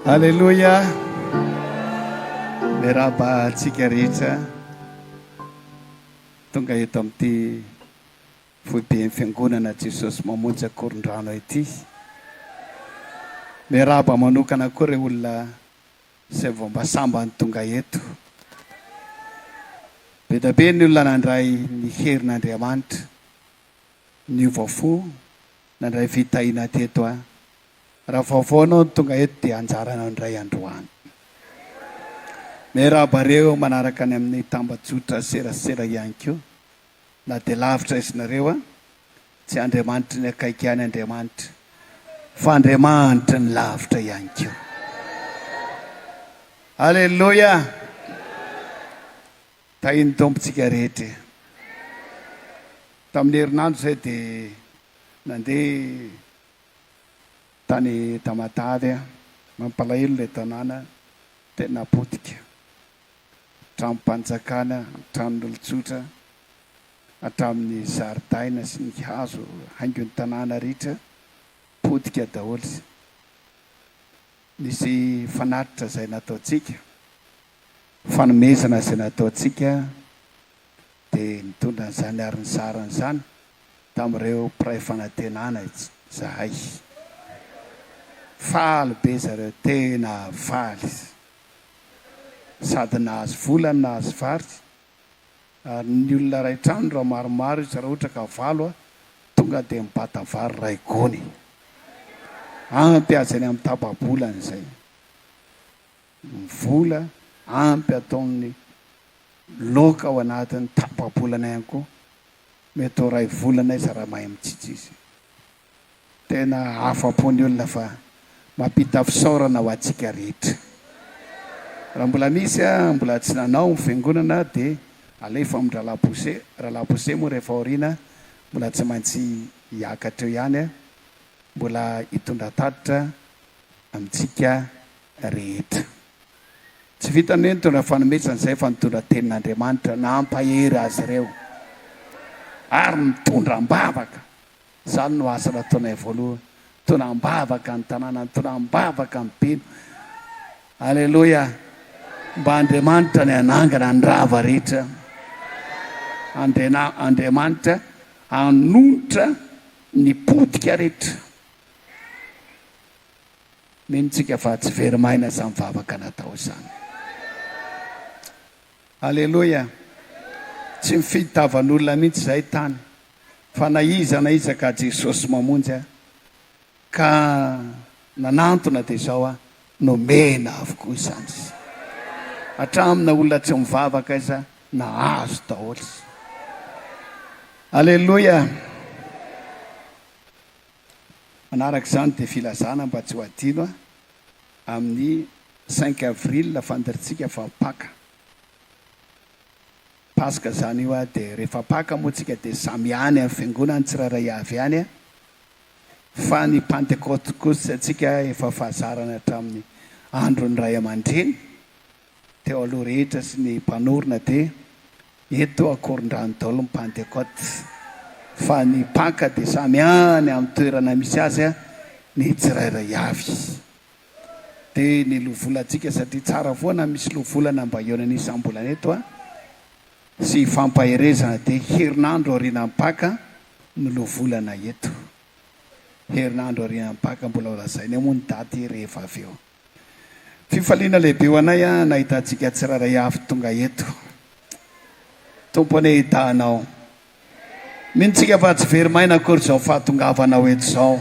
Aleloia! Miarahaba antsika rehetra tonga eto amin'ity foiben'ny fiangonana Jesosy Mamonjy Ankorondrano ity. Miarahaba manokana koa ireo olona izay vao mba sambany tonga eto. Be dia be ny olona nandray ny herin'Andriamanitra. niova fo nandray fitahiana teto an! Raha vaovao anao no tonga eto dia anjaranao indray androany. Miarahaba reo manaraka any amin'ny tambajotra serasera ihany koa na dia lavitra aiza nareo an! Tsy Andriamanitry ny akaiky ihany Andriamanitra fa Andriamanitry ny lavitra ihany koa. Aleloia! Tahin'ny Tompo tsika rehetra e. Tamin'ny herinandro izay dia nandeha tany Tamatave aho. Mampalahelo ilay tanàna, tena potika. Tranom-panjakana, tranon'olon-tsotra, hatramin'ny zaridaina sy ny hazo haingon'ny tanàna ritra, potika daholo. Nisy fanatitra izay nataontsika, Fanomezana izay nataontsika dia nitondra an'izany ary nizara an'izany tamin'ireo mpiray fanantenana izahay. Faly be zareo, tena faly sady nahazo vola no nahazo vary ary ny olona iray trano raha maromaro izy raha ohatra ka valo aho tonga dia mibata vary iray gony. Ampy azy any amin'ny tapa-bolany izay. ny vola ampy ataon'ny loka ao anatin'ny tapabolana ihany koa, mety ho iray volana izy raha mahay mitsitsy izy. Tena afa-po ny olona fa mampita fisaorana ho antsika rehetra. Raha mbola misy mbola tsy nanao ny fiangonana dia alefa amin'ny Ralabose, Ralabose moa rehefa aoriana mbola tsy maintsy hiakatra eo ihany, mbola hitondra tatitra amintsika rehetra. Tsy vita nentina fanomezana izay fa nitondra ny tenin'Andriamanitra nampahery azy ireo ary nitondra am-bavaka. Izany no asa nataonay voalohany. Nitondra am-bavaka ny tanàna, nitondra am-bavaka ny mpino. Aleloia! Mba Andriamanitra ny hanangana ny rava rehetra. Andriana, Andriamanitra hanonitra ny potika rehetra. Mino tsika fa tsy very maina izany vavaka natao izany. Aleloia. Tsy mifidy tavan'olona mihitsy izay tany fa na iza na iza ka Jesosy mamonjy ahy ka nanantona dia izao aho nomena avokoa izany izy. Hatramin'ny na olona tsy mivavaka aza nahazo daholo izy. Aleloia. Manaraka izany dia filazana mba tsy ho adino amin'ny cinq avril fandirintsika fa Paka. Paska izany io dia rehefa Paka moa tsika dia samy any amin'ny fiangonan'ny tsirairay avy ihany fa ny Pantekoty kosa tsika efa fahazarany hatramin'ny andron'ny ray aman-dreny. teo aloha rehetra sy ny mpanorina dia eto Ankorondrano daholo ny Pantekote fa ny Paka dia samy any amin'ny toerana misy azy ny tsirairay avy. Dia ny lovolantsika satria tsara foana misy lovolana mba hihaonana isam-bolana eto a! sy hifampaherezana dia herinandro aorianan'ny Paka no lovolana eto. Herinandro aorianan'ny Paka mbola ho lazainay moa ny daty rehefa avy eo. Fifaliana lehibe ho anay an nahita antsika tsirairay avy tonga eto. Tompo anie hita anao. Mino tsika fa tsy very maina akory izao fahatongavanao eto izao.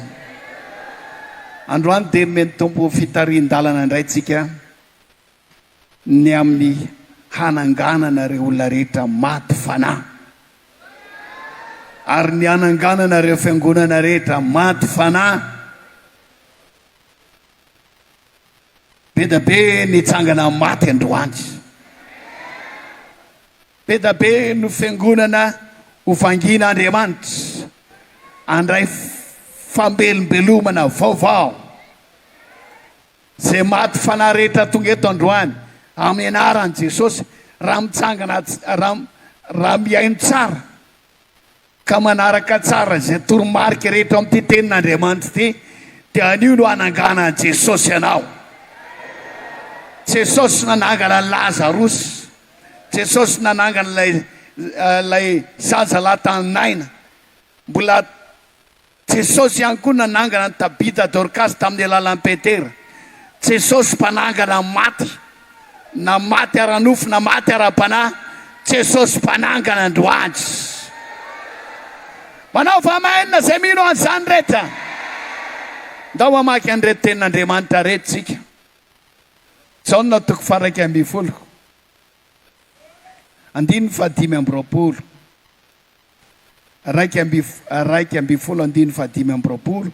Androany dia nomeny Tompo fitarihin-dalana indray tsika ny amin'ny hananganana ireo olona rehetra maty fanahy. Ary ny hananganana ireo fiangonana rehetra maty fanahy. Be da be nitsangana maty androany. Be da be no fiangonana ho vangina Andriamanitra handray fambelombelomana vaovao. Ze maty fanahy rehetra tonga eto androany amin'ny anaran'i Jesosy raha mitsangana raha raha mihaino tsara ka manaraka tsara izay toromarika rehetra ao amin'ity tenin'Andriamanitra ity, dia anio no hananganan'i Jesosy anao. Jesosy nanangana an'i Lazarosy. Jesosy nanangana ilay, ilay zaza lahy tany Naina. Mbola. Jesosy ihany koa nanangana an'i Tabita Dorkasy tamin'ny alalan'i Petera. Jesosy mpanangana ny maty, na maty ara-nofo na maty ara-panahy, Jesosy mpanangana androany. Manaova Amen izay mino an'izany rehetra. Ndao hamaky an'ireto tenin'Andriamanitra ireto isika. Jaona toko faha-iraika ambin'ny folo, andininy faha-dimy amby roapolo. iraika amby iraika ambin'ny folo andininy fahadimy amby roapolo,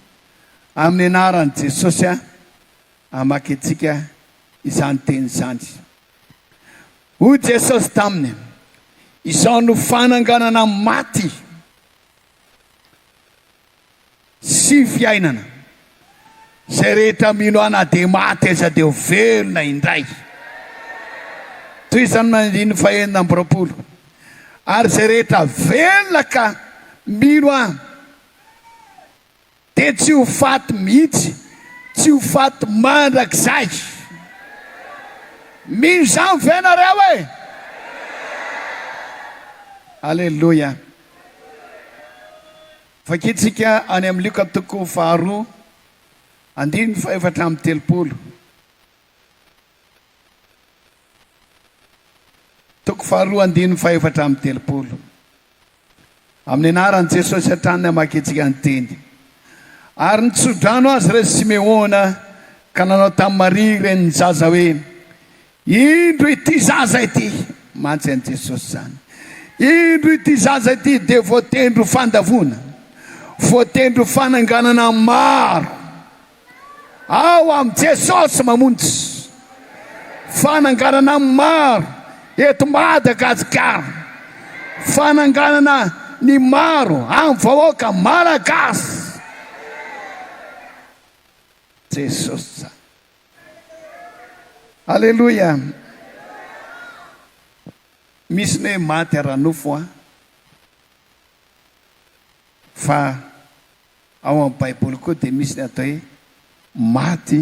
amin'ny anaran'i Jesosy aho, hamaky antsika izany teny izany. Hoy Jesosy taminy, Izao no fananganana maty. Sy fiainana. Zay rehetra mino ahy na dia maty aza dia ho velona indray. Tohizan'ny andininy fahenina amby roapolo, Ary zay rehetra velona ka mino ahy dia tsy ho faty mihitsy, tsy ho faty mandrakizay. Mino izany ve nareo e? Aleloia. Vakintsika any amin'ny Lioka toko faharoa, andininy fahefatra amby telopolo. Toko faharoa andininy fahefatra amby telopolo. Amin'ny anaran'i Jesosy hatrany no hamakintsika ny teny. Ary nitso-drano azy re Simeona ka nanao tamin'i Maria renin'ny zaza hoe, Indro ity zaza ity! Mantsy an'i Jesosy izany. Indro ity zaza ity dia voatendry ho fandavoana, voatendry ho fananganana maro. Ao amin'i Jesosy mamonjy. Fananganana maro eto Madagasikara. Fananganana ny maro amin'ny vahoaka Malagasy. Jesosy izany. Aleloia! Misy ny hoe maty ara-nofo an! Fa ao amin'ny Baiboly koa dia misy ny atao hoe maty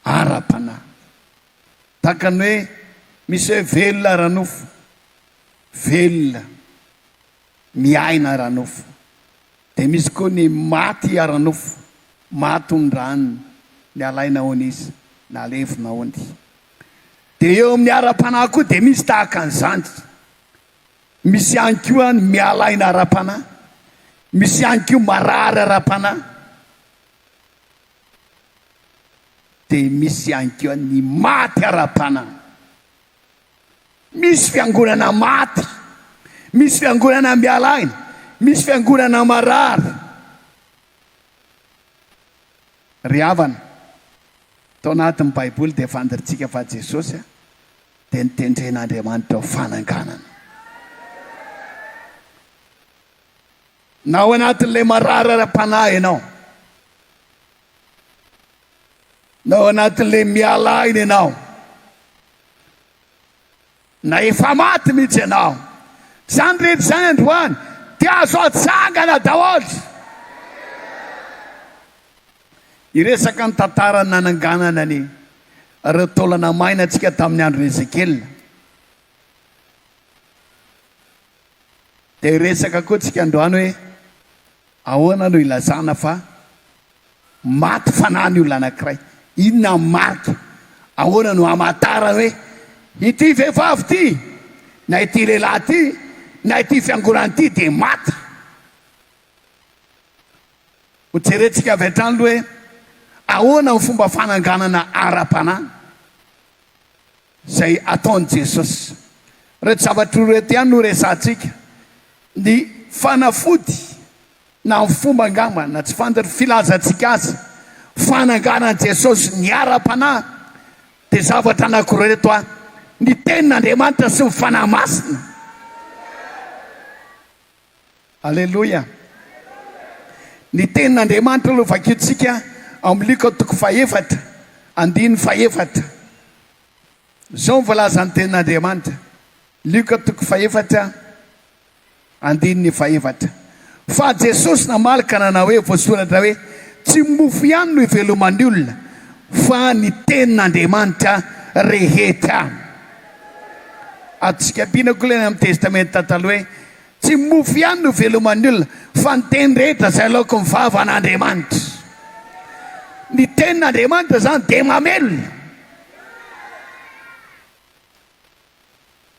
ara-panahy. Tahaka ny hoe misy hoe velona ara-nofo, velona miaina ara-nofo, dia misy koa ny maty ara-nofo, maty ondrany, ny alaina hono izy, na levona hono. Dia eo amin'ny ara-panahy koa dia misy tahaka an'izany. Misy ihany koa ny mialaina ara-panahy, misy ihany koa marary ara-panahy, dia misy ihany koa ny maty ara-panahy. Misy fiangonana maty, misy fiangonana miala aina, misy fiangonana marary. Ry havana, tao anatin'ny Baiboly dia fandrintsika fa Jesosy dia notendren'Andriamanitra ho fananganana. Na ao anatin'ilay marary ara-panahy ianao, Na ao anatin'ilay miala aina ianao, na efa maty mihitsy ianao, izany rehetra izany androany dia azo atsangana daholo. Hiresaka ny tantaran'ny nananganana ny ireo taolana maina antsika tamin'ny andron'i Ezekiela. Dia hiresaka koa isika androany hoe Ahoana no ilazana fa maty fanahy ny olona anankiray? Inona ny marika? Ahoana no hamantarana hoe ity vehivavy ity na ity lehilahy ity na ity fiangonana ity dia maty? Hojerentsika avy hatrany aloha hoe ahoana ny fomba fananganana ara-panahy izay ataon'i Jesosy. Ireto zavatra ireto ihany no resahantsika, ny fanafody na ny fomba angamba na tsy fantatra ny filazantsika azy, fananganan'i Jesosy ny ara-panahy dia zavatra anankiroa ireto avy, ny tenin'Andriamanitra sy ny Fanahy Masina. Aleloia! Ny Tenin'Andriamanitra aloha vakintsika ao amin'ny Luka toko fahefatra andininy fahefatra. Izao no voalazan'ny Tenin'Andriamanitra, Luka toko fahefatra andininy fahefatra, Fa Jesosy namaly ka nanao hoe, Voasoratra hoe, Tsy mofo ihany no iveloman'ny olona, fa ny Tenin'Andriamanitra rehetra. Atsika ampiana koa ilay any amin'ny Testamenta Taloha hoe, Tsy ny mofo ihany no hiveloman'ny olona fa ny teny rehetra izay alaokin'ny vavan'Andriamanitra. Ny tenin'Andriamanitra izany dia mamelona.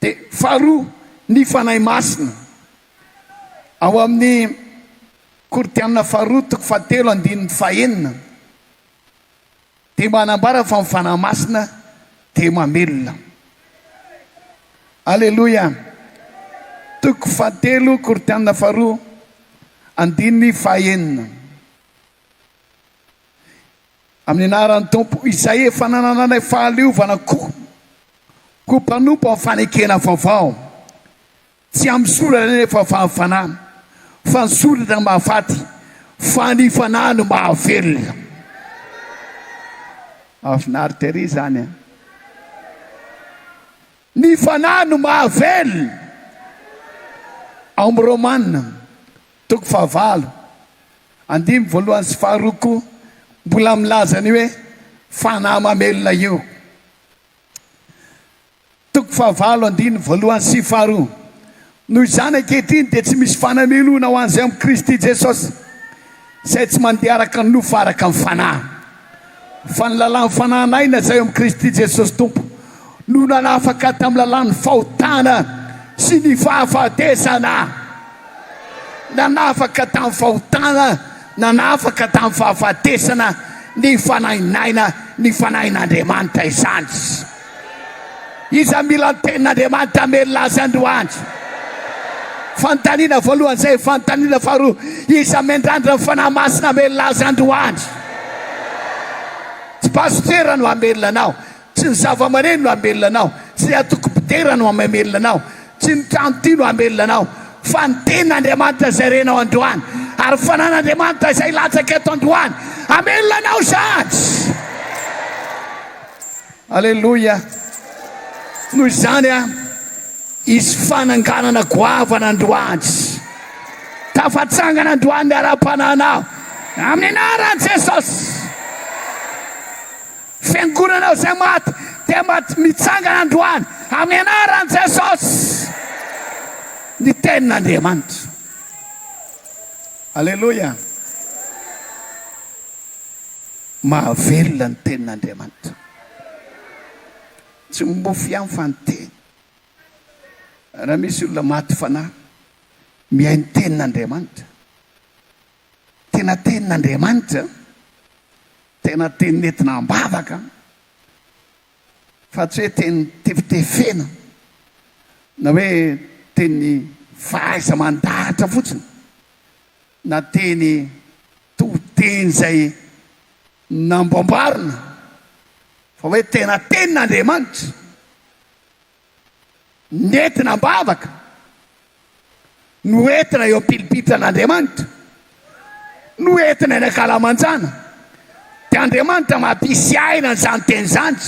Dia faharoa, ny Fanahy Masina. Ao amin'ny Korintiana faharoa toko fahatelo andininy fahenina. Dia manambara fa ny Fanahy Masina dia mamelona. Aleloia. Toko fahatelo Korintiana faharoa andininy fahaenina. Amin'ny anaran'ny Tompo izay efa nanananay fahaleovana koa ho mpanompo amin'ny fanekena vaovao. Tsy amin'ny sorona anefa fa amin'ny fanahy, fa ny sorona no mahafaty, fa ny fanahy no mahavelona. Mahafinaritra ery izany an! Ny fanahy no mahavelona. Ao amin'ny Romana, toko fahavalo, andininy voalohany sy faharoa koa mbola milaza ny hoe fanahy mamelona io. Toko fahavalo andininy voalohany sy faharoa Noho izany ankehitriny dia tsy misy fananelona ho an'izay ao amin'i Kristy Jesosy, izay tsy mandeha araka ny nofo fa araka ny Fanahy. Fa ny lalàn'ny Fanahy naina izay ao amin'i Kristy Jesosy Tompo no nanafaka tamin'ny lalàn'ny fahotana sy ny fahafatesana. Nanafaka tamin'ny fahotana, nanafaka tamin'ny fahafatesana ny Fanahy naina, ny Fanahin'Andriamanitra izany. Iza mila ny tenin'Andriamanitra hamelona azy androany? Fanontaniana voalohany izay. Fanontaniana faharoa, iza miandrandra ny Fanahy Masina hamelona azy androany? Tsy pasitera no hamelona anao, tsy ny zavamaneno no hamelona anao, tsy ny antoko mpidera no mamelona anao, tsy ny trano ity no hamelona anao, fa ny tenin'Andriamanitra izay renao androany, ary fanan'Andriamanitra izay hilatsaka eto androany hamelona anao izany. Aleloia! Noho izany a, hisy fananganana goavana androany. Tafatsangana androany ny ara-panahinao amin'ny anaran'i Jesosy. Fiangonanao izay maty dia maty mitsangana androany amin'ny anaran'i Jesosy. Ny tenin'Andriamanitra. Aleloia! Mahavelona ny tenin'Andriamanitra. Tsy mofo ihany fa ny teny. Raha misy olona maty fanahy mihaino ny tenin'Andriamanitra, tena tenin'Andriamanitra, tena teny nentina am-bavaka fa tsy hoe teny tefitefena na hoe teny fahaiza-mandahatra fotsiny. na teny to teny izay namboamboarina fa hoe tena tenin'Andriamanitra nentina am-bavaka no entina eo am-pilipitran'Andriamanitra no entina eny an-kalamanjana dia Andriamanitra mampisy aina an'izany teny izany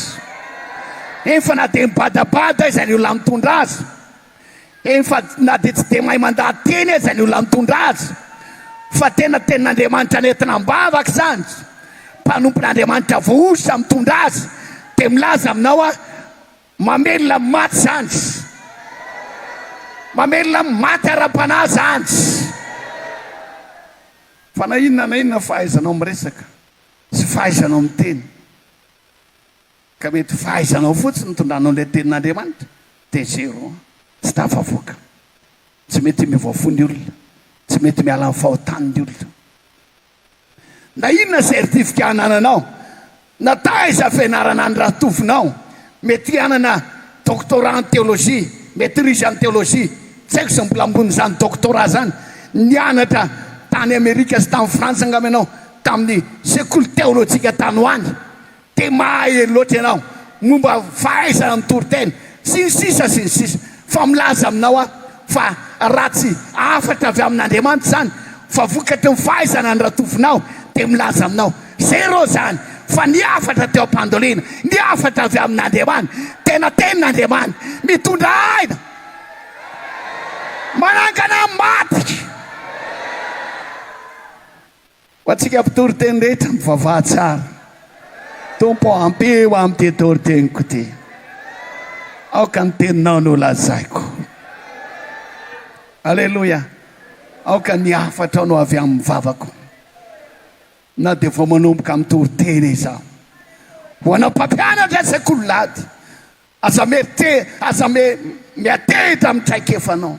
efa na dia mibadabada aza ny olona mitondra azy Eny fa na dia tsy dia mahay mandady teny aza ny olona mitondra azy fa tena tenin'Andriamanitra nentina am-bavaka izany, mpanompon'Andriamanitra voahosotra mitondra azy dia milaza aminao aho mamelona amin'ny maty izany, mamelona amin'ny maty ara-panahy izany. Fa na inona na inona fahaizanao miresaka sy fahaizanao miteny. Ka mety fahaizanao fotsiny nitondranao ilay tenin'Andriamanitra dia zero an! Tsy tafavoaka. Tsy mety miovaova fo ny olona. Tsy mety miala amin'ny fahotany ny olona. Na inona certifika anananao, na taiza fianarana andratovinao, mety hanana doctorat en théologie, maîtrise en théologie, tsy haiko izay mbola ambonin'izany doctorat izany, nianatra tany Amerika sy tany Frantsa angamba ianao, tamin'ny sekoly teolojika tany ho any. Dia mahay loatra ianao momba fahaizana mitory tena sy ny sisa sy ny sisa. Fa milaza aminao aho fa raha tsy hafatra avy amin'Andriamanitra izany fa vokatry ny fahaizana ny ratovinao dia milaza aminao zéro izany fa ny hafatra teo am-pandolina ny hafatra avy amin'Andriamanitra tena tenin'Andriamanitra mitondra aina manangana maty. Ho antsika mpitory teny rehetra mivavaha tsara Tompo ô ampio aho amin'ity tory teniko ity Aoka ny teninao no lazaiko Aleloia Aoka ny hafatrao no avy amin'ny vavako Na dia vao manomboka mitory teny izaho Ho anao mpampianatra izay kololady Aza miha te, aza miha miha te hiditra amin'ny traikefanao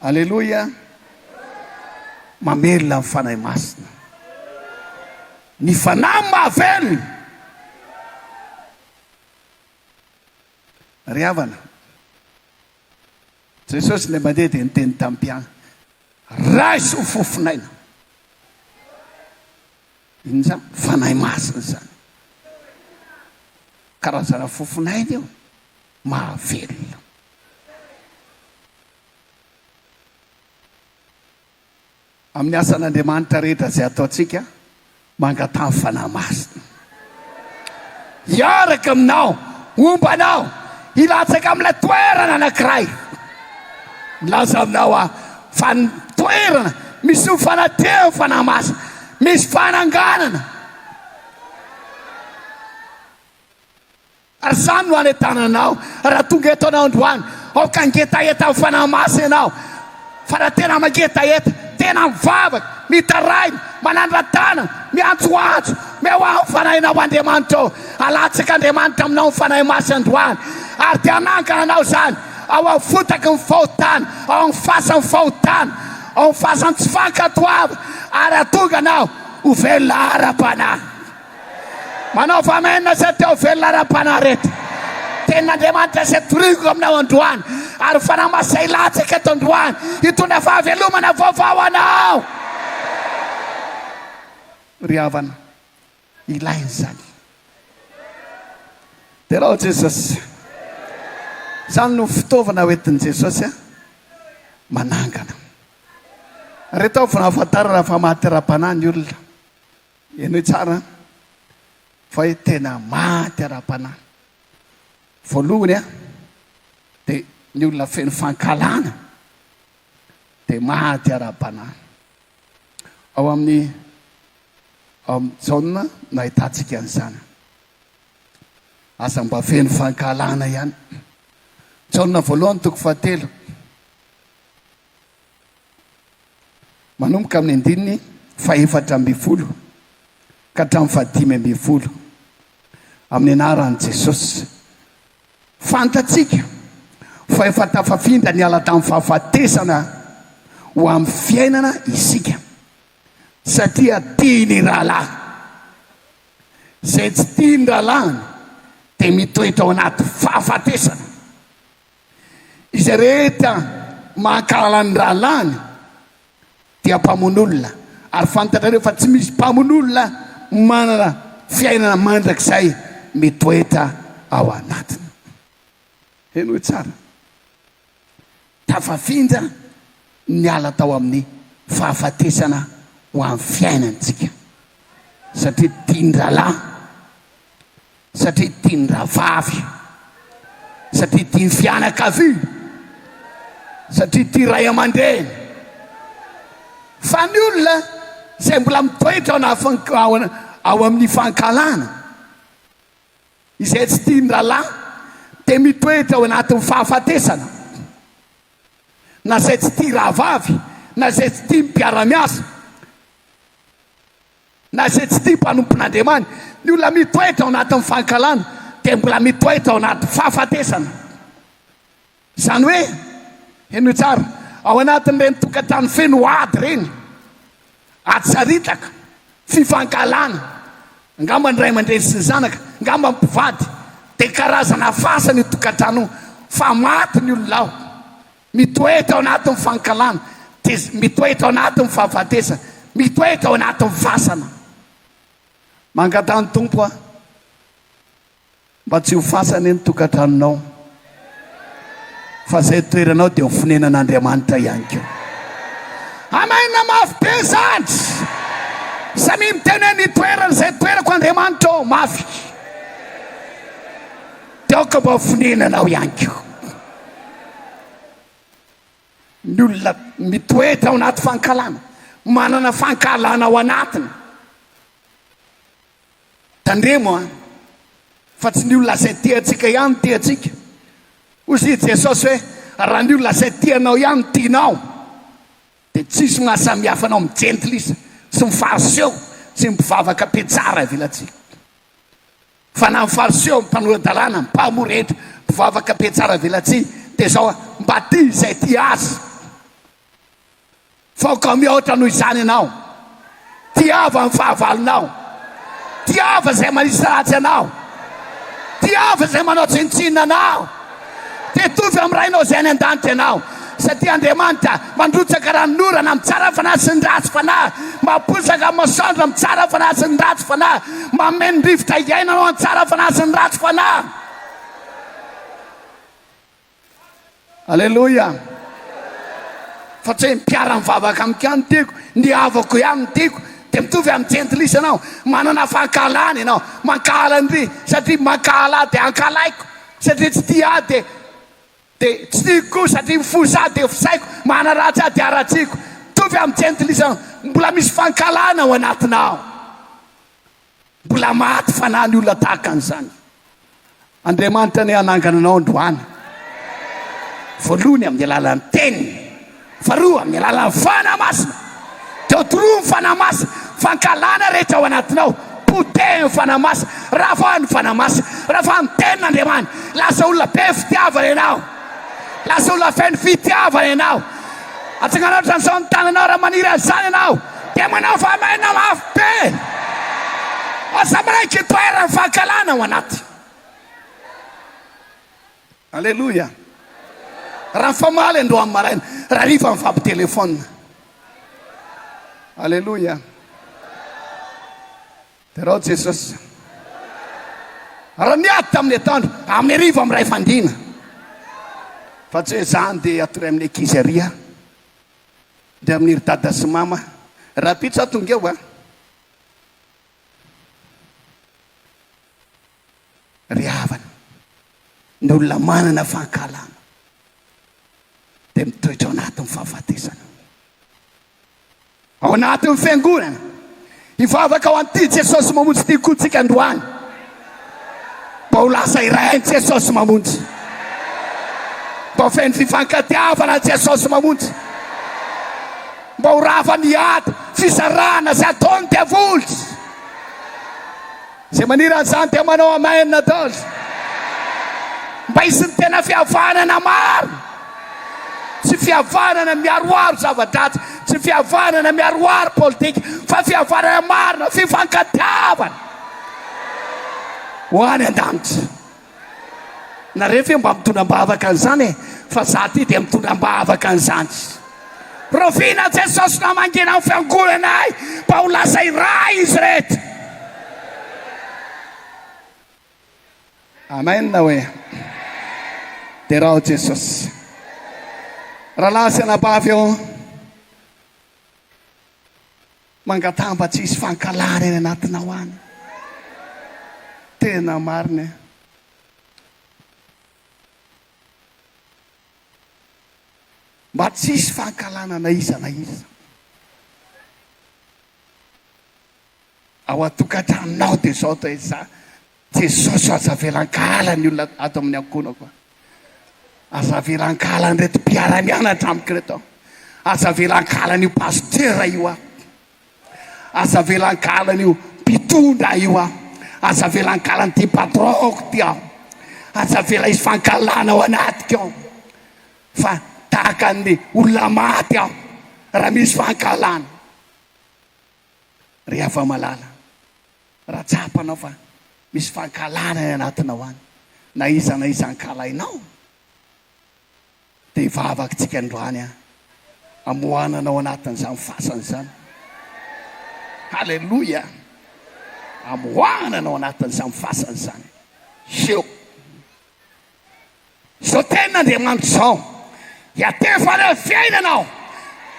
Aleloia! Mamelona ny Fanahy Masina. Ny Fanahy no mahavelona. Ry havana, Jesosy indray mandeha dia niteny tamin'ny mpianany, Raiso ny fofon'aina. Inona izany? Fanahy Masina izany. Karazana fofon'aina io. mahavelona. Amin'ny asan'Andriamanitra rehetra izay ataontsika, mangataha ny Fanahy Masina hiaraka aminao, homba anao hilatsaka amin'ilay toerana anankiray. Milaza aminao aho fa ny toerana misy ny fanatrehan'ny Fanahy Masina, misy fananganana. Ary izany no hanentanana anao raha tonga eto ianao androany. Aoka hangetaheta amin'ny fanahy masina ianao. Fa raha tena mangetaheta, tena mivavaka, mitaraina, manandra-tanana, miantsoantso, mihoaho ny fanahinao amin'Andriamanitra ô, halatsakan'Andriamanitra aminao ny fanahy masina androany, ary dia hanangana anao izany ao amin'ny fotaky ny fahotana, ao amin'ny fasan'ny fahotana, ao amin'ny fasan'ny tsy fankatoavana, ary hahatonga anao ho velona ara-panahy. Manaova Amen izay te ho velona ara-panahy reto. Tenin'Andriamanitra izay toriko aminao androany ary Fanahy Masina izay latsaka eto androany hitondra fahavelomana vaovao ho anao. Ry havana, ilaina izany. Derao Jesosy. Izany no fitaovana hoentin'i Jesosy manangana. Reto avy no ahafantarana fa maty ara-panahy ny olona. Henoy tsara fa hoe tena maty ara-panahy. Voalohany a, dia ny olona feno fankahalana dia maty ara-panahy. Ao amin'ny ao amin'ny Jaona no ahitantsika an'izany. Aza mba feno fankahalana ihany. Jaona voalohany toko fahatelo. manomboka amin'ny andininy fahefatra ambin'ny folo ka hatramin'ny fahadimy ambin'ny folo, amin'ny anaran'i Jesosy. Fantatsika fa efa tafafindra niala tamin'ny fahafatesana ho amin'ny fiainana isika, satria tia ny rahalahy. Izay tsy tia ny rahalahiny dia mitoetra ao anaty fahafatesana. Izay rehetra maha-kahala ny rahalahiny dia mpamono olona, ary fantatrareo fa tsy misy mpamono olona manana fiainana mandrakizay mitoetra ao anatiny. Henoy tsara, tafafindra ny ala tao amin'ny fahafatesana ho an'ny fiainantsika, satria tian-drahalahy. Satria tiany rahavavy io. Satria tiany fianakaviana. Satria tia ray aman-dreny. Fa ny olona izay mbola mitoetra ao amin'ny fankahalana, izay tsy tia ny rahalahy, dia mitoetra ao anatin'ny fahafatesana. Na izay tsy tia rahavavy, na izay tsy tia ny mpiara-miasa. Na izay tsy tia mpanompon'Andriamani, ny olona mitoetra ao anatin'ny fankahalana dia mbola mitoetra ao anaty fahafatesana. Izany hoe, henoy tsara, ao anatin'ireny tokantrano feno ady ireny, ady sariitaka, tsy fankahalana, angamba ny ray aman-dreny sy ny zanaka, angamba ny mpivady, dia karazana fasana io tokantrano io, fa maty ny olona ao. Mitoetra ao anatin'ny fankahalana, dia mitoetra ao anatin'ny fahafatesana, mitoetra ao anatin'ny fasana. Mangataha ny Tompo aho mba tsy ho fasana ny tokantranonao, fa izay toeranao dia ho fonenan'Andriamanitra ihany koa. Amen! Mafy be izany! Samia miteny hoe, Ny toerana izay toerako Andriamanitra ô! Mafy! Dia aoka mba ho fonenanao ihany koa ny olona mitoetra ao anaty fankahalana, manana fankahalana ao anatiny. Tandremo an, fa tsy ny olona izay tia antsika ihany no tia antsika. Hozy i Jesosy hoe, raha ny olona izay tia anao ihany no tianao, dia tsisy mahasamihafa anao amin'ny jentilisa sy ny fariseo sy ny mpivavaka mpietsara ivelatsihy. Fa na ny Fariseo, ny mpanora-dalàna, ny mpahamoa rehetra, mpivavaka be tsara velatsihy, dia izao an, mba tia izay tia azy. Fa aoka mihoatra noho izany ianao. Tiava ny fahavalonao. Tiava izay manisy ratsy anao. Tiava izay manao tsinontsinona anao. dia hitovy amin'ny Rainao izay any an-danitra ianao, satria Andriamanitra mandrotsaka ranon'orana amin'ny tsara fanahy sy ny ratsy fanahy, mampoizaka amin'ny masoandro amin'ny tsara fanahy sy ny ratsy fanahy, mameno rivotra iainana ho an'ny tsara fanahy sy ny ratsy fanahy. Aleloia! Fa tsy hoe ny mpiara-mivavaka amiko ihany no tiako, ny havako ihany no tiako, dia mitovy amin'ny jentilisa ianao, manana fankahalana ianao, mankahala an'ireny, satria mankahala ahy dia hankahalaiko, Satria tsy tia ahy dia dia tsy tiako koa satria mifosa ahy dia fisaiko manaratsy ahy dia haratsiako mitovy amin'ny jentilisa mbola misy fankahalana ao anatina aho mbola maty fanahy ny olona tahaka an'izany Andriamanitra anie hanangana anao androany voalohany amin'ny alalan'ny teniny Faharoa, amin'ny alalan'ny Fanahy Masina. Teo toroa ny Fanahy Masina. Fankahalana rehetra ao anatinao, potehin'ny Fanahy Masina. Ravaho ny Fanahy Masina. Ravaho ny Tenin'Andriamani. Lasa olona be fitiavana ianao. Lasa olona feno fitiavana ianao. Atsanganao hatramin'izao ny tananao raha maniry an'izany ianao. Dia manao fahamarinana mafy be. Aza manaiky hitoeran'ny fankahalana ao anaty. Aleloia! Raha famaly androany maraina, raha rifa mifampitelefaonina. Aleloia! Derao Jesosy. Raha niady tamin'ny atoandro, amin'ny hariva amin'ny iray fandriana. Fa tsy hoe izany dia hatory amin'ny ankizy ary aho, dia amin'ny ry dada sy mama. Rahampitso aho tonga eo a! ry havana, ny olona manana fankahalana dia mitoetra ao anatin'ny fahafatesana. Ao anatin'ny Fiangonana, hivavaka ho an'ity Jesosy mamonjy ity koa tsika androany, mba ho lasa iray ny Jesosy mamonjy, mba ho feno fifankatiavana ny Jesosy mamonjy, mba ho rava ny ady, fizarana izay ataon'ny diavoly. Zay maniry azany dia manao amen ataoz mba hisin'ny tena fihavanana marina tsy fihavanana miaroaro zava-dratsy tsy fihavanana miaroaro politika fa fihavanana marina fifankatiavana ho any an-danitra Nareo ve mba mitondra ambavaka an'izany e? Fa za ty dia mitondra ambavaka an'izany. Rahoviana Jesosy no hamangiana ny fiangonanay mba ho lasa iray izy rehetra? Amen hoe. Derao Jesosy. Rahalahy sy anabavy ô. Mangataha mba tsy hisy fankahalana any anatinao any. Tena marina e. Mba tsy hisy fankahalana na iza na iza. Ao an-tokantranonao dia izao dia izay. Jesosy o aza avela ankahala ny olona ato amin'ny ankohonako a! Aza avela ankahala an'ireto mpiara-mianatra amiko ireto a! Aza avela ankahala an'io pasitera io a! Aza avela ankahala an'io mpitondra io a! Aza avela ankahala an'ity patron-ko ity a! Aza avela hisy fankahalana ao anatiko ao fa tahaka ny olona maty aho raha misy fankahalana. Ry Havamalala, Raha tsapanao fa misy fankahalana any anatinao any, na iza na iza ankahalainao, dia hivavaktsika androany an, hamoahana anao anatin'izany fasana izany. Haleloia! Hamoahana anao anatin'izany fasana izany. Hio! Izao tenin'Andriamanitra izao, Hiantefa ireo fiainana aho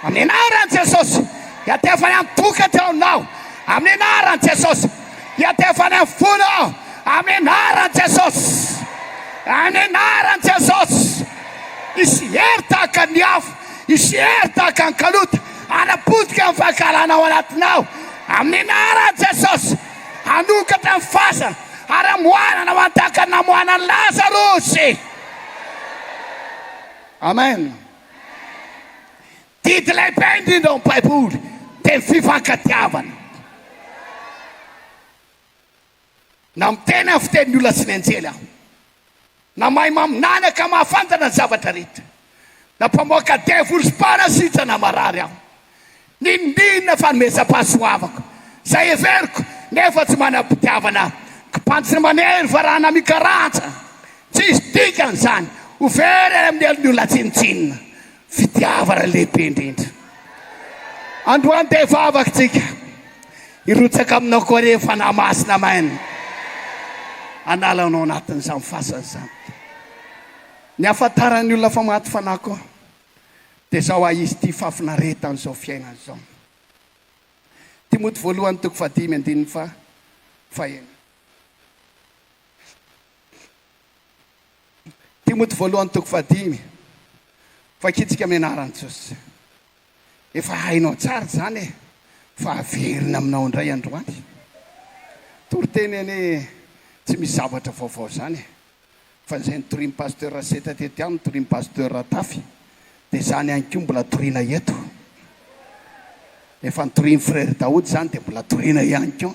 amin'ny anaran'i Jesosy. Hiantefa ny an-tokatrano aho amin'ny anaran'i Jesosy. Hiantefa ny amin'ny fony aho amin'ny anaran'i Jesosy. Amin'ny anaran'i Jesosy. Hisy hery tahaka ny afo, hisy hery tahaka ny kalota hanapotika amin'ny fankahalana ao anatinao amin'ny anaran'i Jesosy. Hanokatra ny fasana. Ary hamoahana na mandaka ny namoahana an'i Lazarosy. Amen. Didy lehibe indrindra ao amin'ny Baiboly dia ny fifankatiavana. Na miteny amin'ny fitenin'ny olona sy ny anjely aho. Na mahay maminany ka mahafantatra ny zavatra rehetra, na mpamoaka devoly sy mpanasitrana marary aho. Ninoninona fanomezam-pahasoavako, izay heveriko, nefa tsy manam-pitiavana aho. Kibanjy ny manery varahina mikarantsa. Tsisy dikany izany, ho very any amin'ny helon'ny olona tsinontsinona. Fitiavana lehibe indrindra. Androany dia hivavaka tsika. Hirotsaka aminao koa re Fanahy Masina Amen. Hanala anao anatin'izany fasana izany. Ny ahafantaran'ny olona fa maty fanahy koa dia zao a izy tia fahafinaretana izao fiainana izao. Timoty voalohany toko fahadimy andininy faha faheno. Timoty voalohany toko fahadimy, Vakitsika amin'ny anaran'i Jesosy. Efa hainao tsara izany e, fa haverina aminao indray androany. Toriteny anie tsy misy zavatra vaovao izany e, fa izay notorian'i Pasteur Raseta teto ihany no torian'i Pasteur Ratafy, dia izany ihany koa mbola toriana eto. Efa notorian'i Frere Daoud izany dia mbola toriana ihany koa.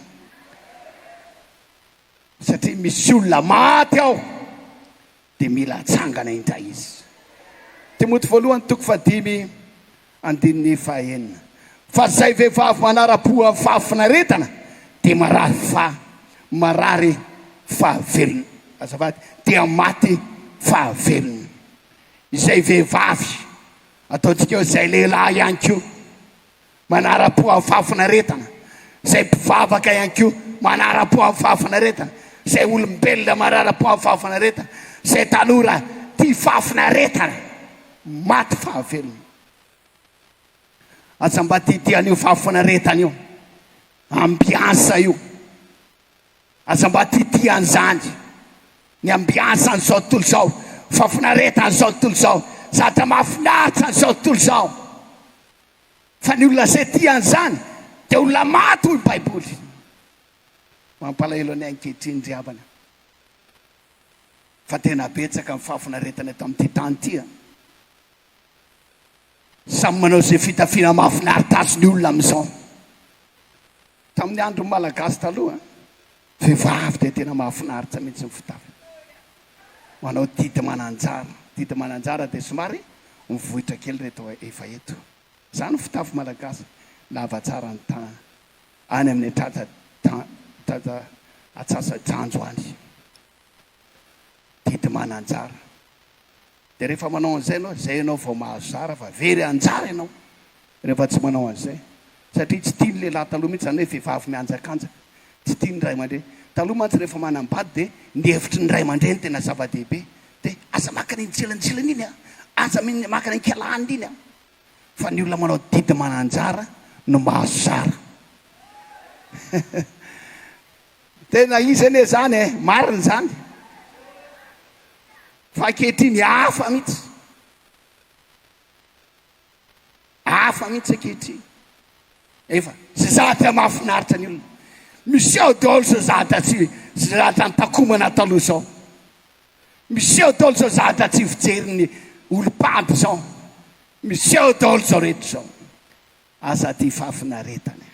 satria misy olona maty ao dia mila atsangana indray izy. Timoty voalohany toko fahadimy andininy fahaenina. Fa izay vehivavy manara-po amin'ny fahafinaretana dia marary fa marary fahavelony. Azafady, dia maty fahavelony. Izay vehivavy, ataontsika hoe izay lehilahy ihany koa, Manara-po amin'ny fahafinaretana izay mpivavaka ihany koa, manara-po amin'ny fahafinaretana izay olombelona, manara-po amin'ny fahafinaretana izay tanora tia fahafinaretana, maty fahavelony. Aza mba didy an'io fahafinaretana io, ambiansa io, aza mba didy an'izany, ny ambiansan'izao tontolo izao, fahafinaretan'izao tontolo izao, zavatra mahafinaritra an'izao tontolo izao. fa ny olona izay tia an'izany dia olona maty hoy baiboly. Mampalahelo anay ankehitriny ry havana fa tena betsaka ny fahafinaretana eto amin'ity tany ity an! Samy manao izay fitafiana mahafinaritra azy ny olona amin'izao. Tamin'ny andron'ny Malagasy taloha Vehivavy dia tena mahafinaritra mihitsy ny fitafiny. Manao didy mananjara. Didy mananjara dia somary mivoitra kely ireto efa eto. Izany ny fitafy malagasy. Lava tsara ny tanana. Any amin'ny tratra tratra atsasa-dranjo any. Didy mananjara. Dia rehefa manao an'izay ianao, izay ianao vao mahazara fa very anjara ianao rehefa tsy manao an'izay. Satria tsy tian'ny lehilahy taloha mihitsy izany hoe vehivavy mihanjakanja. Tsy tian'ny ray aman-dreny. Taloha mantsy rehefa manambady dia ny hevitry ny ray aman-dreny tena zava-dehibe. Dia aza maka an'iny tsilanjilana iny an! Aza maka an'iny kialahanina iny an! Fa ny olona manao didy mananjara no mahazo zara. Tena izy anie izany e! Marina izany. Fa ankehitriny hafa mihitsy. Hafa mihitsy ankehitriny. Efa zazadra mahafinaritra ny olona. Miseho daholo zazadra tsy zazadra an-takomana taloha izao. Miseho daholo zazadra tsy fijerin'ny olom-pady izao. Miseho daholo izao rehetra izao. Aza tia fahafinaretana.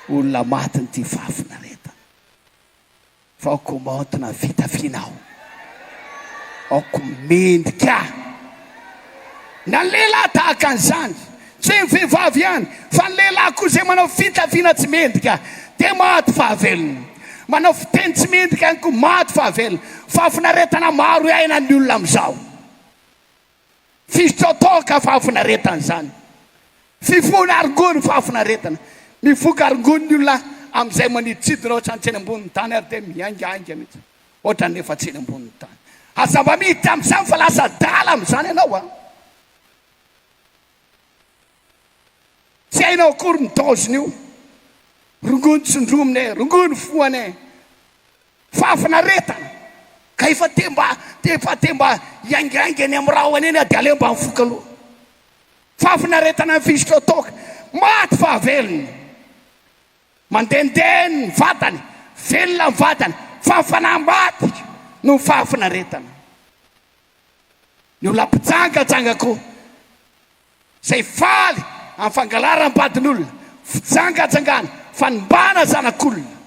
Olona maty no tia fahafinaretana. Aoka maontina fitafiana aho. Aoka mendrika aho. Na ny lehilahy tahaka an'izany. Tsy hoe ny vehivavy ihany, fa ny lehilahy koa izay manao fitafiana tsy mendrika, dia maty fahavelona. Manao fiteny tsy mendrika ihany koa, maty fahavelona. Fahafinaretana maro iainan'ny olona amin'izao. Tsisy tsy ataoka fahafinaretana izany. Fifohana arongony fahafinaretana. Mifoka arongony ny olona amin'izay maniditsidina ohatran'ny tsena ambonin'ny tany ary dia mihaingahainga mihitsy ohatran'ny efa tsena ambonin'ny tany. Aza mba miditra amin'izany fa lasa adala amin'izany ianao a! Tsy hainao akory ny daoziny io. Rongony tsindromina e, rongony foana e. Fahafinaretana ka efa te mba te efa te mba hiaingainga eny amin'ny rahona eny dia aleo mba mifoka aloha. Fahafinaretana ny fisotra toaka, maty fa velona. Mandehandeha ny vatany, velona ny vatany fa ny fanahy maty noho ny fahafinaretana. Ny olona mpijangajanga koa. Izay faly amin'ny fangalaram-badin'olona, fijangajangana, fanimbana zanak'olona.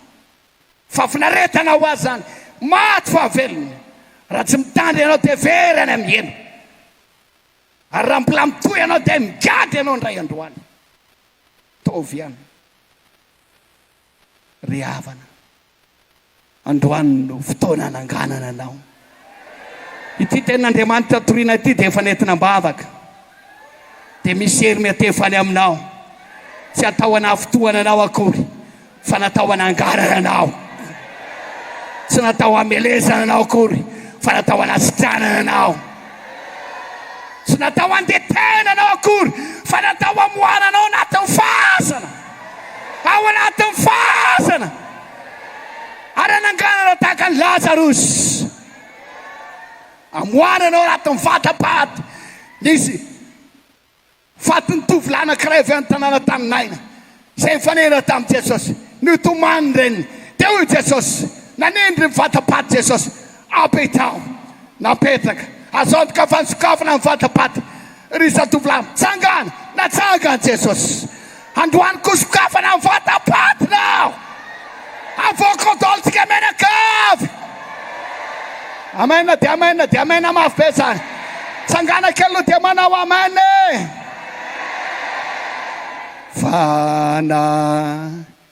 Fahafinaretana ho azy izany, maty fahavelony raha tsy mitandrina ianao dia very any amin'ny hena. Ary raha mbola mitohy ianao dia migadra ianao indray androany. Ataovy ihany. Ry havana, androany no fotoana hananganana anao. Ity tenin'Andriamanitra toriana ity dia efa nentina am-bavaka, dia misy hery miantefa any aminao, tsy atao hanafintohana anao akory, fa natao hananganana anao. Tsy natao hamelezana anao akory, fa natao hanasitranana anao. Tsy natao handetehana anao akory, fa natao hamoahana anao anatin'ny fahazana. ao anatin'ny fasana ary hanangana anao tahaka an'i Lazarosy. Hamoahana anao anatin'ny vata-paty. Nisy fatin'ny tovolahy anankiray avy any tanàna tany Naina izay nifanena tamin'i Jesosy. Nitomany ny reniny. Dia hoy Jesosy, nanindry ny vata-paty Jesosy, Ampitaho. Napetraka. Azo antoka fa nisokafana ny vata-paty. Ry zatovolahy mitsangana, natsangan'i Jesosy. Androany koa sokafana ny vatam-patina aho. Avoaka daolintsika mianakavy. Amen dia amen dia amen mafy be izany. Tsangana kely aloha dia manao amen e. Fana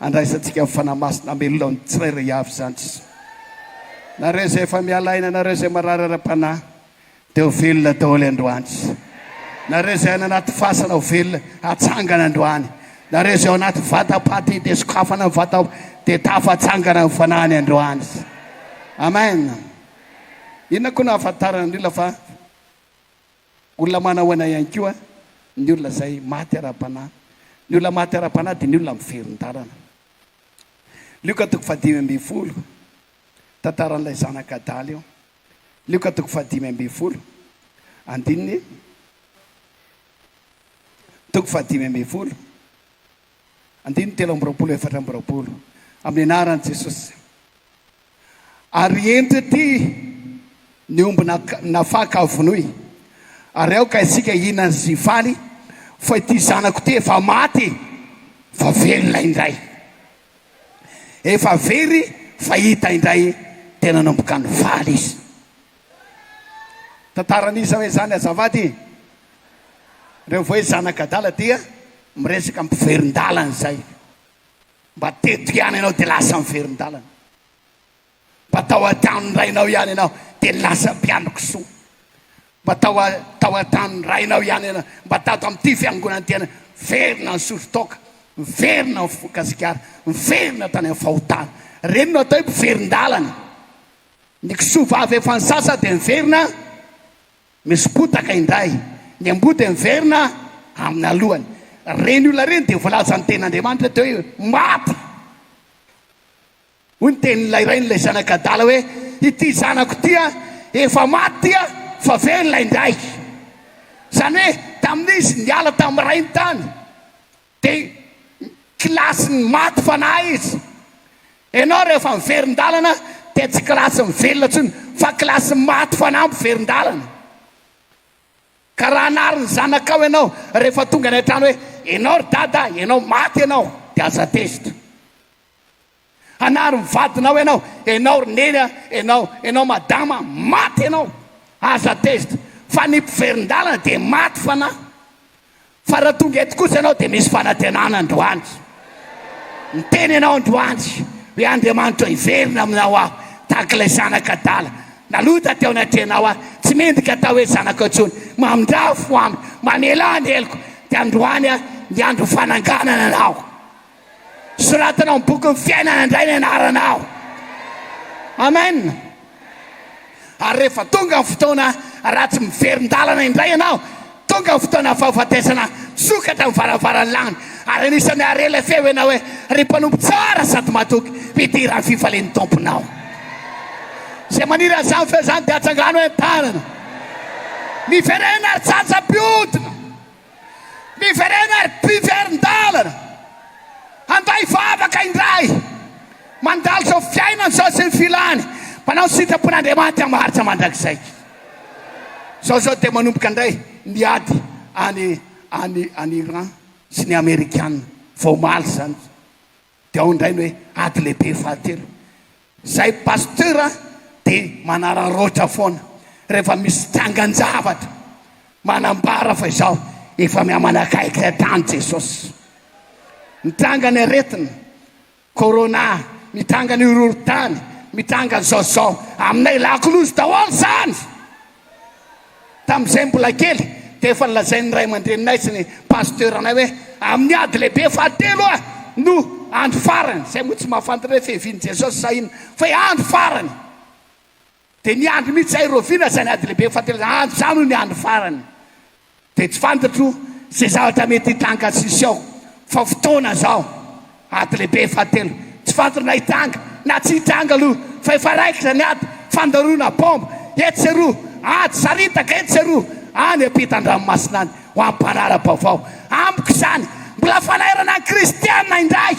Andraisantsika amin'ny Fanahy Masina hamelona ny tsirairay avy izany Jesoa. Nareo izay efa miala aina, nareo izay marary ara-panahy, dia ho velona daholo androany Jesoa. Nareo izay any anaty fasana ho velona, hatsangana androany. Nareo izay ao anaty vatam-paty dia sokafana ny vata, dia tafatsangana ny fanahiny androany Jesoa. Amen. Inona koa no ahafantaran'ny olona fa. Olona manahoana ihany koa ny olona izay maty ara-panahy? Ny olona maty ara-panahy dia ny olona miverin-dalana. Lioka toko fahadimy ambin'ny folo, tantaran'ilay zanak' adala io. Lioka toko fahadimy ambin'ny folo, andininy toko fahadimy ambin'ny folo. Andininy telo amby roapolo efatra amby roapolo Amin'ny anaran'i Jesosy Ary ento ety ny omby nafaka vonoy Ary aoka isika hihinana sy hifaly Fa ity zanako ity efa maty fa velona indray Efa very fa hita indray Tena nanomboka nivaly izy Tantara an'iza hoe zany azafady e? Reo voe zanak'adala dia miresaka mpiverindalana izay mba teto ihany ianao dia lasa miverindalana. Mba tao an-tranon'ny rainao ihany ianao dia lasa mpiandry kisoa. Mba tao tao an-tranon'ny rainao ihany ianao, mba tato amin'ity fiangonantena miverina ny sotro toaka, miverina ny foko Gasikara, miverina tany amin'ny fahotana. Reny no atao hoe mpiverindalana. Ny kisoa vavy efa nisasa dia miverina misy potaka indray. Ny amboa dia miverina amin'ny alohany. Ireny olona ireny dia voalazan'ny Tenin'Andriamanitra teo hoe maty. Hoy ny tenin'ilay rain'ilay zanaka adala hoe, Ity zanako ity efa maty ity fa velona indray. Izany hoe tamin'izy niala tamin'ny rainy tany Dia ny kilasin'ny maty fanahy izy. Ianao rehefa miverin-dalana dia tsy kilasin'ny velona intsony fa kilasin'ny maty fanahy miverin-dalana. Ka raha hanary ny zanakao ianao rehefa tonga any an-trano hoe, ianao ry dada, ianao maty ianao, dia aza tezitra. Hanary ny vadinao ianao, ianao ry neny a, ianao, ianao madama a, maty ianao, azo attest fa ny mpiverin-dalana dia maty fanahy, fa raha tonga eto kosa ianao dia misy fanantenana androany, niteny ianao androany hoe Andriamanitra hiverina aminao aho tahaka ilay zanaka adala nalota teo anatrehanao aho, tsy mendrika atao hoe zanako intsony, mamindrafo amiko, mamela ny heloko, dia androany a, ny andro fananganana anao. Soratana ao amin'ny bokin'ny fiainana indray ny anaranao. Amen. Ary rehefa tonga ny fotoana, raha tsy miverin-dalana indray ianao, tonga ny fotoana fahafatesana, misokatra ny varavaran'ny lanitra, ary anisan'ny hare ilay feo ianao hoe, Ry Mpanompo tsara sady matoky, mpidiran'ny fifalian'ny Tomponao. Izay maniry an'izany feo izany dia atsangano eny an-tanana. Miverena ary tsatsa-pihodina. Miverena ary mpiverin-dalana handay vavaka indray, mandalo izao fiainana izao sy ny filany, manao ny sitrapon'Andriamanitra maharitra mandrakizay. Izao izao dia manomboka indray ny ady any any any Iran sy ny Amerikana vao omaly izany. Dia ao indray ny hoe ady lehibe fahatelo. Izay pasteur dia manararaotra foana rehefa misy trangan-javatra manambara fa izao efa mihamanakaiky hatrany Jesosy. Mitranga ny aretina, corona, mitranga ny horohorontany, mitranga izao sy izao. Aminay lakolosy daholo izany. Tamin'izahay mbola kely dia efa nolazain'ny ray aman-dreninay sy ny pasiteuranay hoe amin'ny ady lehibe fahatelo oa no andro farany, izay moa tsy mahafantatra hoe fiavian'i Jesosy sa inona fa hoe andro farany. Dia niandry mihitsy izahay, Rovina izany ady lehibe fahatelo izany, andro izany hoy ny andro farany. Dia tsy fantatro izay zavatra mety hitranga sisy ao fa fotoana izao ady lehibe fahatelo tsy fantatro na hitranga na tsy hitranga aloha fa efa raikitra ny ady fandaroana bomba etsy sy eroa ady saritaka etsy sy eroa any ampitan-dranomasina any ho an'ny mpanara-baovao amiko izany mbola fanairana ny kristiana indray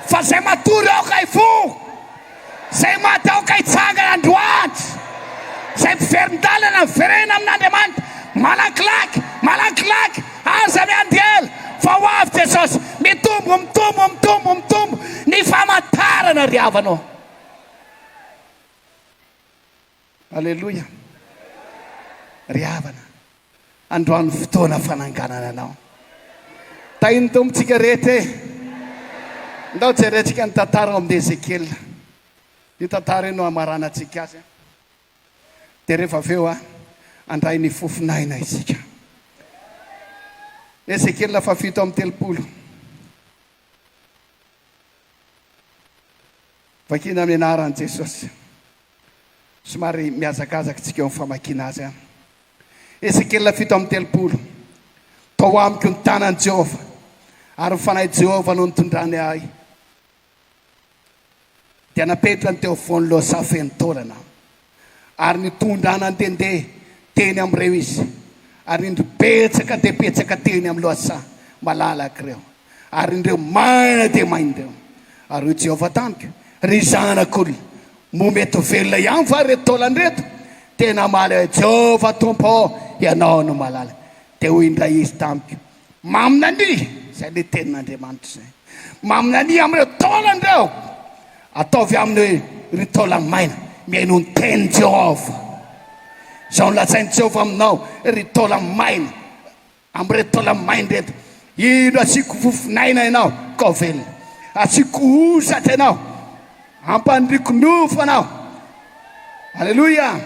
fa izay matory aoka hifoha Izay maty aoka hitsangana androany. Izay mpiverin-dalana miverena amin'Andriamanitra. Malakilaky, malakilaky, aza miandiela, fa ho avy Jesosy. Mitombo, mitombo, mitombo, mitombo ny famantarana ry havana ô. Aleloia ry havana androany fotoana fananganana anao tahin'ny Tompo tsika rehetra e ndao jerentsika ny tantara ao amin'ny Ezekiela io tantara io no hamaranantsika azy a dia rehefa avy eo a handray ny fofon'aina isika Ezekiela fahafito amby telopolo Vakina ny anaran'i Jesosy. Somary mihazakazaka isika eo amin'ny famakiana azy. Ezekiela fito amby telopolo, Tao amiko ny tanan'i Jehovah, ary ny fanahin'i Jehovah no nitondrany ahy. dia napetrany teo afovoan'i Losa feno taolana, ary nitondra nandehandeha teny amin'ireo izy, ary nindry betsaka dia betsaka teny amin'i Losa malalaka ireo, ary nindreo maina dia maina ireo. Ary hoy Jehovah tamiko, Ry zanak'olona, moa mety ho velona ihany va ireto taolana ireto? Dia namaly ahy Jehovah Tompo, Ianao no mahalala. Dia hoy indray izy tamiko, Maminania, izay ilay tenin'Andriamanitra izay. Maminania amin'ireo taolana ireo. Ataovy aminy hoe, Ry taolany maina, mihainoa ny tenin'i Jehovah. Izao no lazain'i Jehovah aminao, Ry taolany maina, amin'ireto taolany maina ireto, indro asiako fofon'aina ianao, ka ho velona. Asiako hosatra ianao. Ampandriko nofo anao. Aleloia.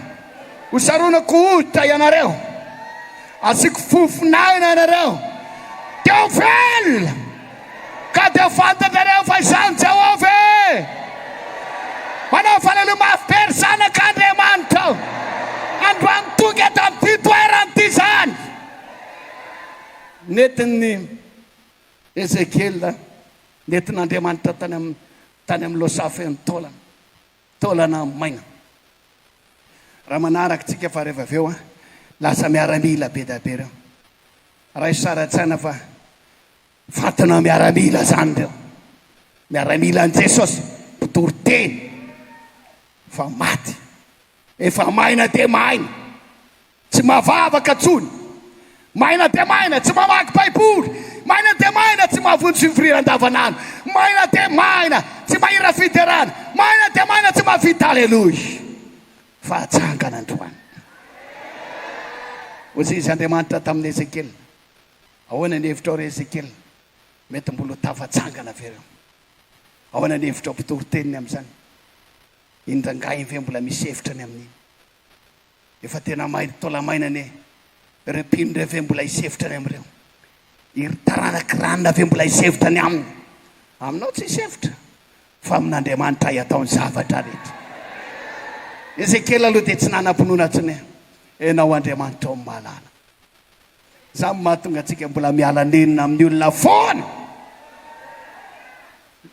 Ho saronako hoditra ianareo. Asiako fofon'aina ianareo. Teo velona. Ka dia fantatrareo fa izaho ny Jehovah e. Manao fanaleo mafy be ry zanak'Andriamanitra. Androany tonga eto amin'ity toerana ity izany. Nentin'i Ezekiela, nentin'Andriamanitra tany amin'ny Tany amin'ny Losa feno taolana, taolana maina. Raha manaraka antsika fa reva avy eo lasa miaramila be dia be ireo. Raiso sary an-tsaina fa fantina miaramila izany ireo. Miaramila an'i Jesosy, mpitory teny fa maty. Efa maina dia maina. Tsy mahavavaka tsony. Maina dia maina, tsy mamaky baiboly. Maina dia maina, tsy mahavonjy fivoriana andavan'andro. Maina dia maina, tsy mahira fiderana. Maina dia maina, tsy mahavita aleloia. Fa hatsangana androany. Hoy izy Andriamanitra tamin'i Ezekiela. Ahoana ny hevitrao ry Ezekiela? Mety mbola ho tafatsangana ve ireo? Ahoana ny hevitrao mpitory teniny amin'izany? Indrangahy ve mbola misy hevitra ny amin'iny? Efa tena may ry taolamaina anie. Ireo mpino ireo ve mbola hisevotra any amin'ireo? Iry taranak'i Ranona ve mbola hisevotra any aminy? Aminao tsy hisevotra, fa amin'Andriamanitra ahy atao ny zavatra rehetra. Ezekiela aloha dia tsy nanam-pinoana intsony. Ianao Andriamanitra ô, mahalala. Izany no mahatonga antsika mbola miala nenina amin'ny olona foana.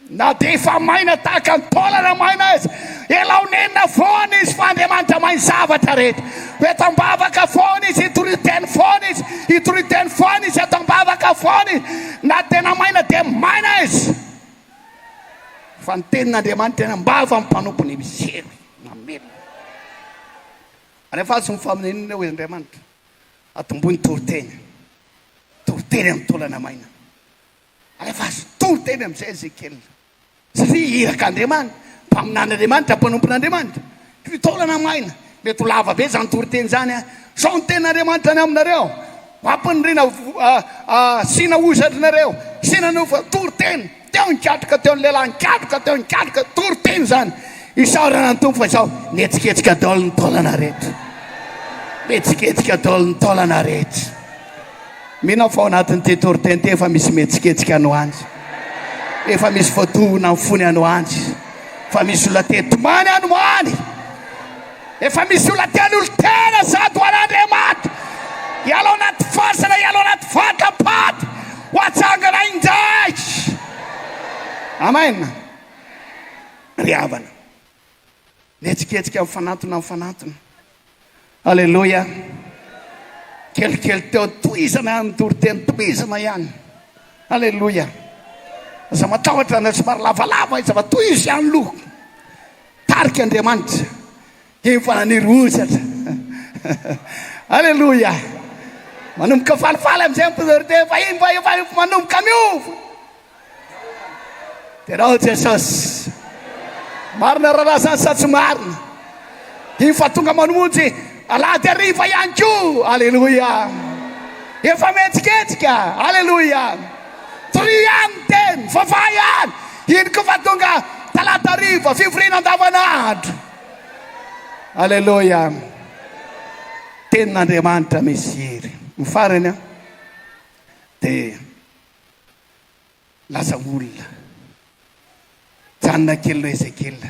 Na dia efa maina tahaka ny taolana maina aza, ialao nenina foana izy fa Andriamanitra mahay zavatra rehetra. Eto am-bavaka foana izy, hitory teny foana izy, hitory teny foana izy, eto am-bavaka foana izy. Na tena maina dia maina izy. Fa ny tenin'Andriamanitra eny am-bavan'ny mpanompo ny misy hery mamelona. Rehefa azon'ny faminaniana hoy Andriamanitra. Atomboy ny toriteny. Toriteny amin'ny taolana maina. Alefaso toriteny amin'izay Ezekiela. Satria irak'Andriamanitra, mpaminan'Andriamanitra, mpanompon'Andriamanitra. Toy taolana maina. Mety ho lava be izany toriteny izany an. Izao ny tenin'Andriamanitra any aminareo, Ho ampaniriana, asiana hozatra anareo, asiana nofo, toriteny. Teo nikatroka teo ny lehilahy, nikatroka teo, nikatroka, toriteny izany, isaorana ny Tompo fa izao, nihetsiketsika daholo ny taolana rehetra, nihetsiketsika daholo ny taolana rehetra. Mino aho fa ao anatin'ity toriteny ity efa misy mihetsiketsika any ho any, efa misy voatohina ny fony any ho any, efa misy olona te-tomany any ho any. Efa misy olona te hanolo tena sady ho an'Andriamatoa hiala ao anaty farce na hiala ao anaty vata-paty ho atsangana indray. Amen. Ry havana, nihetsiketsika mifanantona mifanantona. Aleloia. Kelikely teo, tohizana ihany ny toriteny, tohizana ihany. Aleloia. Aza matahotra na somary lavalava izy fa tohizo ihany loha. Tarika Andriamanitra dia efa hanery hozatra. Aleloia! Manomboka falifaly amin'izay ny mpino dia efa iny fa efa manomboka miova. Tenao Jesosy. Marina rahalahy zany sa tsy marina? Dia efa tonga manonjy alahady hariva ihany koa. Aleloia! Efa mihetsiketsika. Aleloia! Dorian dia mivavaha ihany. Iny koa fa tonga talata hariva, fivoriana andavanandro. Aleloia. Tenin'Andriamanitra misy hery. Ny farany an, dia lasa olona. Janona kelinao Ezekiela.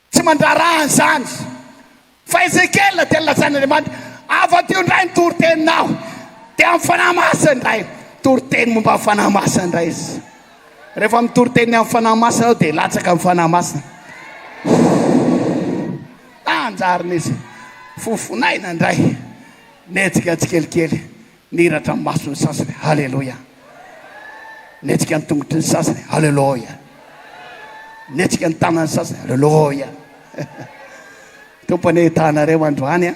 Tsy mandraharaha an'izany. Fa Ezekiela dia nolazain'Andriamanitra, Afa-drio indray ny toriteninao, dia amin'ny Fanahy Masina indray. Toriteny momba ny Fanahy Masina indray izy. Rehefa mitoritenin'ny amin'ny Fanahy Masina ianao dia latsaka amin'ny Fanahy Masina. Tanjarina izy. Fofonaina indray. Nihetsika tsikelikely. Niratra ny mason'ny sasany, Haleloia! Nihetsika ny tongotry ny sasany, Haleloia! Nihetsika ny tanan'ny sasany, Haleloia! Tompo anie hitahanareo androany a!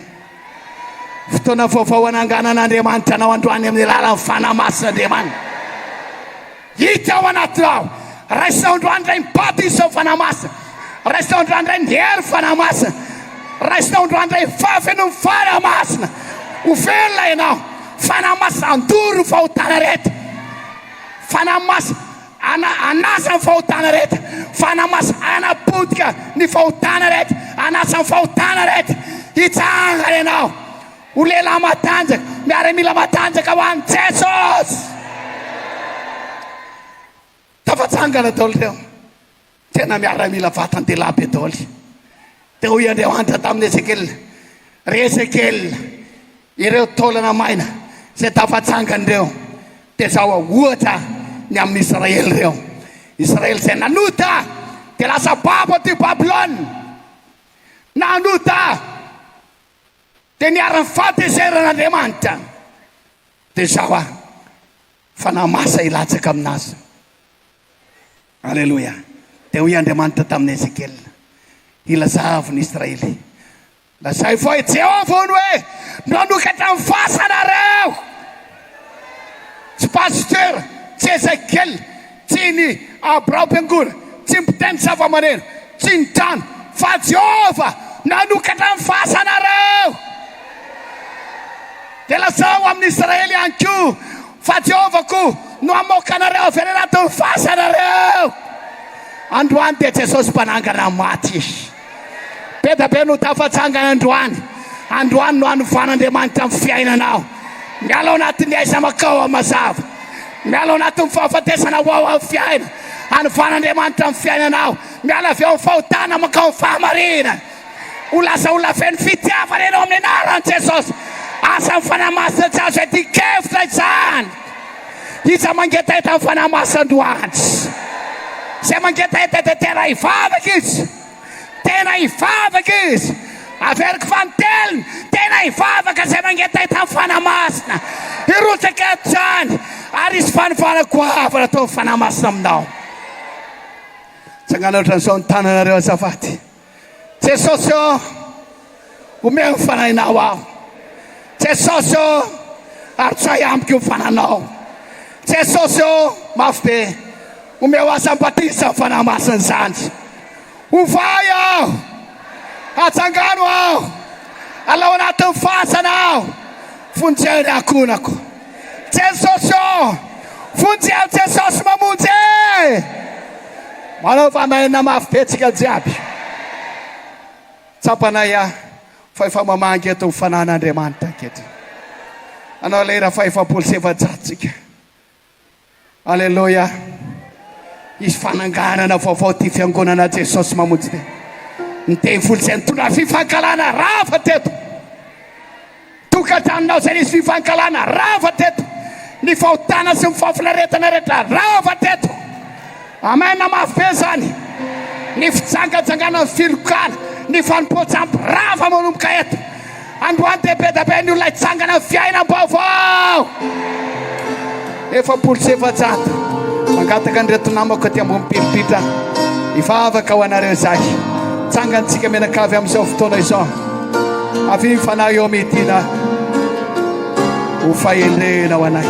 Fotoana vaovao hananganan'Andriamanitra anao androany amin'ny alalan'ny Fanahy Masin'Andriamanitra. Hita ao anaty lalao. Raiso androany indray ny bato hisy ao Fanahy Masina. Raiso androany indray ny hery Fanahy Masina. Raiso androany indray ny fahafenoan'ny Fanahy Masina. Ho velona ianao. Fanahy Masina handoro ny fahotana rehetra. Fanahy Masina ana anasa ny fahotana rehetra. Fanahy Masina hanapotika ny fahotana rehetra. Anasa ny fahotana rehetra. Hitsangana ianao. Ho lehilahy matanjaka, miaramila matanjaka ho an'i Jesosy! Tafatsangana daholo ireo tena miaramila vatan-dehilahy be daholo. Dia hoy Andriamanitra tamin'i Ezekiela, Ry Ezekiela, ireo taolana maina izay tafatsangana ireo, dia zao ohatra ny amin'ny Israely ireo, Israely izay nanota dia lasa babo aty Babylona, nanota, Dia niharan'ny fahatezeran' Andriamanitra dia izao ary fa namasa hilatsaka amin'azy. Aleloia. Dia hoy Andriamanitra tamin'i Ezekiela, Ilazavo ny Israely, Lazaivo fa i Jehovah hono hoe, Nanokatra ny fasanareo. Tsy pasitera, tsy Ezekiela. Tsy ny biraom-piangonana, tsy ny mpitendry zavamaneno, tsy ny trano, fa Jehovah nanokatra ny fasanareo. Dia lazao amin'ny Israely ihany koa fa Jehovah koa no hamoaka anareo avy any anatin'ny fasanareo. Androany dia Jesosy mpanangana maty. Be dia be no tafatsangana androany. Androany no hanovan'Andriamanitra ny fiainanao. Miala ao anatin'ny aiza makao amin'ny mazava. Miala ao anatin'ny fahafatesana ho ao amin'ny fiaina. Hanovan'Andriamanitra ny fiainanao. Miala avy ao amin'ny fahotana mankao amin'ny fahamarinana. Ho lasa olona feno fitiavana ianao amin'ny anaran'i Jesosy. Asan'ny Fanahy Masina tsy azo iadian-kevitra izany. Iza mangetaheta ny Fanahy Masina androany? Izay mangetaheta dia tena hivavaka izy, tena hivavaka izy. Averiko fa ny teliny, tena hivavaka izay mangetaheta ny Fanahy Masina. Hirotsaka eto izany ary hisy fanovana goavana ataon'ny Fanahy Masina aminao. Tsangana ohatran'izao ny tananareo azafady. Jesosy ô, omeo ny Fanahinao aho. Jesosy ô, arotsay amiko ny Fanahinao. Jesosy ô, mafy be, omeo aho izany batisa amin'ny Fanahy Masina izany. Ovay aho, ajangano aho, alao anatin'ny fasana aho, vonjeo ny ankohonako. Jesosy ô! Vonjy aho Jesosy mamonjy e! Manaova anay na mafy be tsika jiaby. Tsapanay aho fa efa mamangy eto ny Fanahin' Andriamanitra ankehitriny. Nanao lera faha efapolo sy efajato tsika. Aleloia! Hisy fananganana vaovao ty fiangonana Jesosy mamonjy te. Ny devoly izay nitondra fifankahalana rava teto. Tokantranonao izay nisy fifankahalana rava teto. Ny fahotana sy ny fahafinaretana rehetra rava teto. Amen namafy be zany ny fijangajangana ny filokana ny fanompoantsam birava manomboka eto androany dia bedabe ny olona hitsangana ny fiainam baovao efapolo sy efajato mangataka an'ireto namako aty ambony piripitra hivavaka ho anareo izahay tsangantsika mianakavy amin'izao fotoana izao avy ny fanahy eo midina ho fahendrena ho anay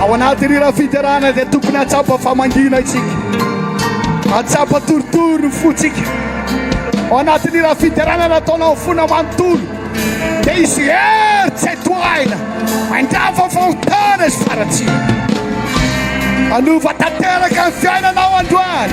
Ao anatin'ny ira fiderana dia tokony hatsapa fa mangina isika, hatsapa torotoro ny fotsika. Ao anatin'ny ira fiderana nataonao fona manontolo dia hisy hery tsy toahina handrava fahotana izy faratsiana. Hanova tanteraka ny fiainanao androany.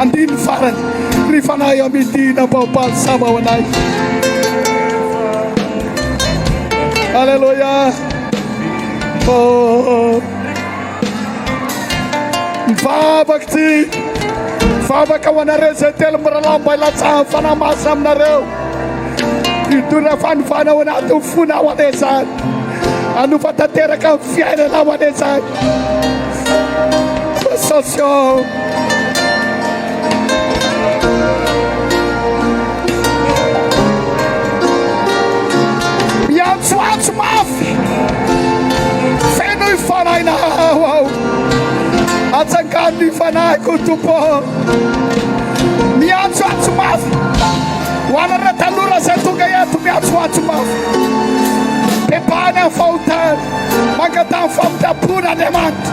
Andininy farany, Ry Fanahy amin'ity nampahampaly sava ho anay. Aleloia. Oh. Mivavaka ity. Mivavaka ho anareo izay telo mirahalahy mba hilatsahan'ny fanahy masina aminareo. Hidona fanovana ao anatin'ny fona ho anay izany. Hanova tanteraka ny fiainana ho anay izany. Sensation. ny fanahiko tompo miantsoantso mafy ho anareo tanora zay tonga eto miantsoantso mafy bebahany amin'ny fahotana mangatany fampiampona andriamanitra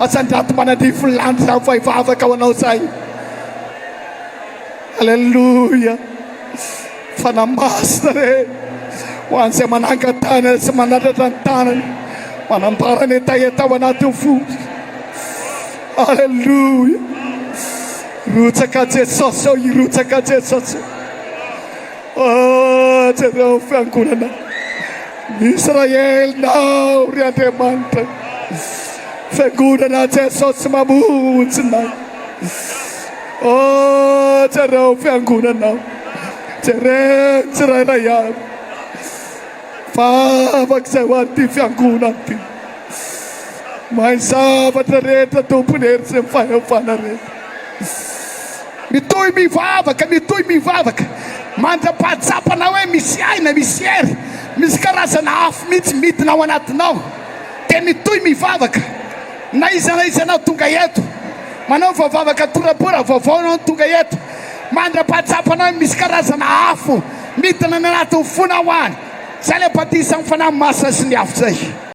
Asandrato manandrify landy zany vao hivavaka ho anao zay. Aleloia. Fanahy masina re. Ho an'izay manangan-tànana sy manatratra ny tànany. Manambara ny hetaheta ao anatin'ny fo. Aleloia. Rotsaka Jesosy eo, irotsaka Jesosy eo. Ah, jereo fiangonana Israelinao, ry Andriamanitra, fiangonana Jesosy mamonjy na. Oh, jereo fiangonanao, jereo tsirairay avy, vavak'izay ho an'ity fiangonana ity. Mahay zavatra rehetra tompon'ny hery sy ny fahefana rehetra. Mitohy mivavaka, mitohy mivavaka mandra-pahatsapanao hoe misy aina, misy hery, misy karazana afo mihitsy midina ao anatinao. Dia mitohy mivavaka na iza na iza anao tonga eto, manaova vavaka torapora vaovao ianao no tonga eto, mandra-pahatsapanao hoe misy karazana afo midina any anatin'ny fonao any. Izay ilay batisa amin'ny Fanahy Masina sy ny afo izay.